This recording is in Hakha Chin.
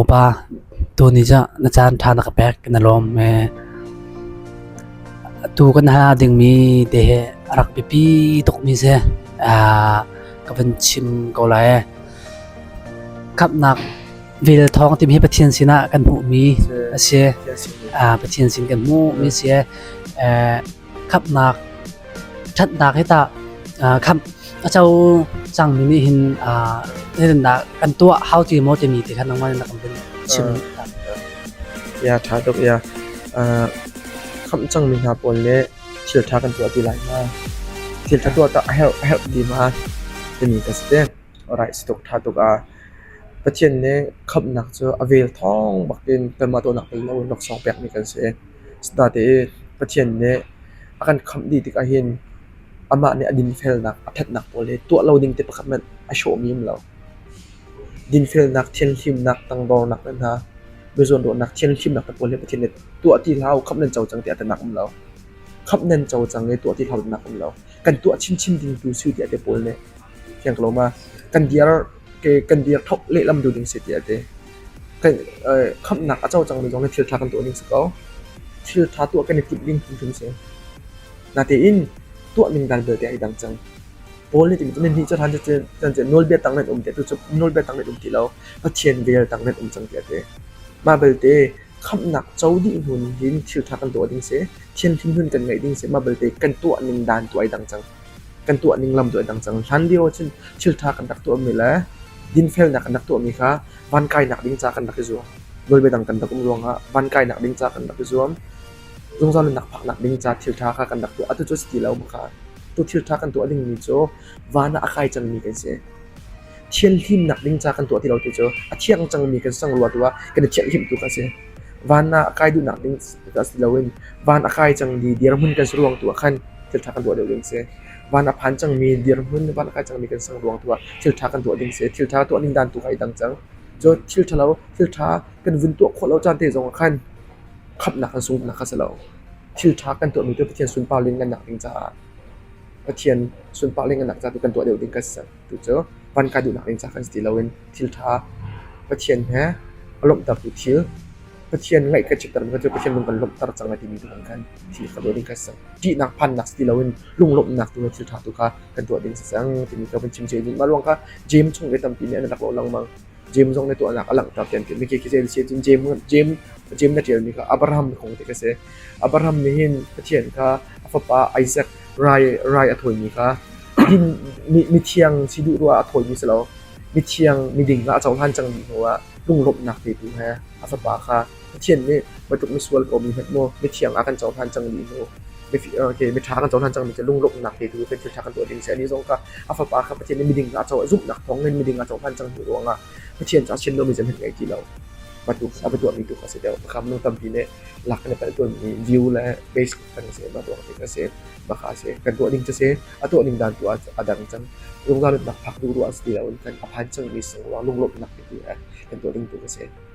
Upa tuni cu na caan ṭha na ka pek na lawm ee. Atu kan hal dingmi te hi a rak biapi tukmi si. Ka van chim ko lai ee. Khamhnak vel thawng timi hi Pathian sinah kan hmuhmi a si. Pathian sin kan hmuhmi a si. khamhnak ṭhatnak hi tah khamh a co cangmi nih hin nitindah kan tuah hau ti maw timi ti khan nangmah in na kan vun chim ya ṭha tuk ya khamh cangmi hna pawl le thil ṭha kan tuah ti lai ma thil ṭha tuah tah a herh a herh ti ma timi ka si te rai si tuk ṭha tuk a Pathian nih khamhnak cu a vel thawng bakin kanmah tuahnak tel lo laksawng pekmi kan si Asinatein Pathian nih a kan khamh dih tikah hin amah nih a dinfelnak, a ṭhatnak pawl hi tuah lo ding te pakhat hmanh a hrawhmi um lo. Dinfelnak, thianhlimnak, tangdornak le hna biazawnruahnak, thianhlimnak te pawl hi Pathian nih tuah ti hlah u, khamh nan co cang tiah a tinak um lo. Khamh nan co cang i tuah ti hlah u tinak um lo. Kan tuah chinchin ding tu si u tiah te pawl nih Fiang ko lo ma. Kan dir ke kan dir thok lehlam tu ding si ti a ti. Kan khamnak a co cang mi zong le thil tha kan tuah ning si ko. Thil tha tuah kan i timh ding phun si. Na tein tuah ning dan belte ai dang cang. Paul nih timi cun ni cu than chan chan nawlbia tang nan um ti tu cu nawlbia tang nan um ti lo pathian vel tang nan um cang ti a ti. Mah belte khamnak co dih hun hin thil tha kan tuah ding si, thian hlim hun kan ngaih ding si, mah belte kan tuah ning dan tuah ai dang cang. kan tuah ning lam cu a dang cang. Hlan lio ahcun thilṭha kan rak tuahmi le dinfelnak kan rak tuahmi kha van kainak ding ca kan rak i zuam. Nawlbia dang kan rak um ruangah van kainak ding ca kan rak i zuam. Zungzal nunnak phaknak ding ca thilṭha kha kan rak tuah. Atu cu si ti lo bang kha tu thilṭha kan tuah dingmi cu van ah a kai cangmi kan si. thianhlimnak ding ca kan tuah ti lo ti cu a thiang cangmi kan sangrua tu ah kan i thianhhlimh tu kha a si. Van ah a kai duhnak ding ka si loin van a kai cangmi dirhmun kan si ruang tu ah khan thil ṭha kan tuah deuh ding si. Van a phan cangmi dirhmun van a kai cangmi kan sang ruang tu ah thil ṭha kan tuah ding si. Thil ṭha tuah ning dan tu kha i dang cang. Cu thil ṭhalo, thil ṭha kan vun tuah khawh lo caan te zong ah khan khamhnak kan sungnak kha si lo. Thil ṭha kan tuahmi tu Pathian sunpar lingannak ding caah Pathian sunpar lingannak ca tu kan tuah deuh ding ka si. Tucu van ka duhnak ding ca kan si ti loin thilṭha, Pathian he a lawmhtertu thil, Pathian ngaih kan chiatter mi cu Pathian lung kan lawmhter cang lai timi tu kan kan thil ka ruah ding kan si. Ṭihnak phannak si ti loin lunglawmhnak tu le thilṭha tu kha kan tuah ding si cang timi ka vun chim cia ding. Mah ruang kha James chung ve tampi nih an rak lawh lengmang. Jeim zong nih tuahnak a langhter tiah an ti. Mikhi khi zei a si? Cun Jeim, Jeim, Jeim na ṭialmi kha Abraham kong ti ka si. Abraham nih hin Pathian kha a fapa Isaac rai, rai a thawimi kha mi, mithiang si duh ruah a thawimi si lo, mithiang miding kha a cohlan cang dih hnuah lunglawmhnak petu he a fapa kha Pathian nih Matluk misual kawmi hmanh maw mithiang ah kan cohlan cang mi mu miṭha kan cohlan cang mi cu lunglawmhnak theitu kan thilṭha kan tuah ding si a nih zong kha a Fapa kha Pathian nih miding ah zumhnak thawngin miding ah cohlan cang hnu ruangah Pathian cu a sian lomi zeihmanh ngei ti lo Matluk a va tuahmi tu kha a si deuh makham nu tampi nih lak in a palh tuanmi view le base kan si mah tuah ding a si makha a si kan tuah ding cu si a tuah ning dan tu ah a dang cang runga nutnak phak duh ruah a si ti lo in kan a phan cang mi sungruang lunglawmhnak theitu kan tuah ding tu a si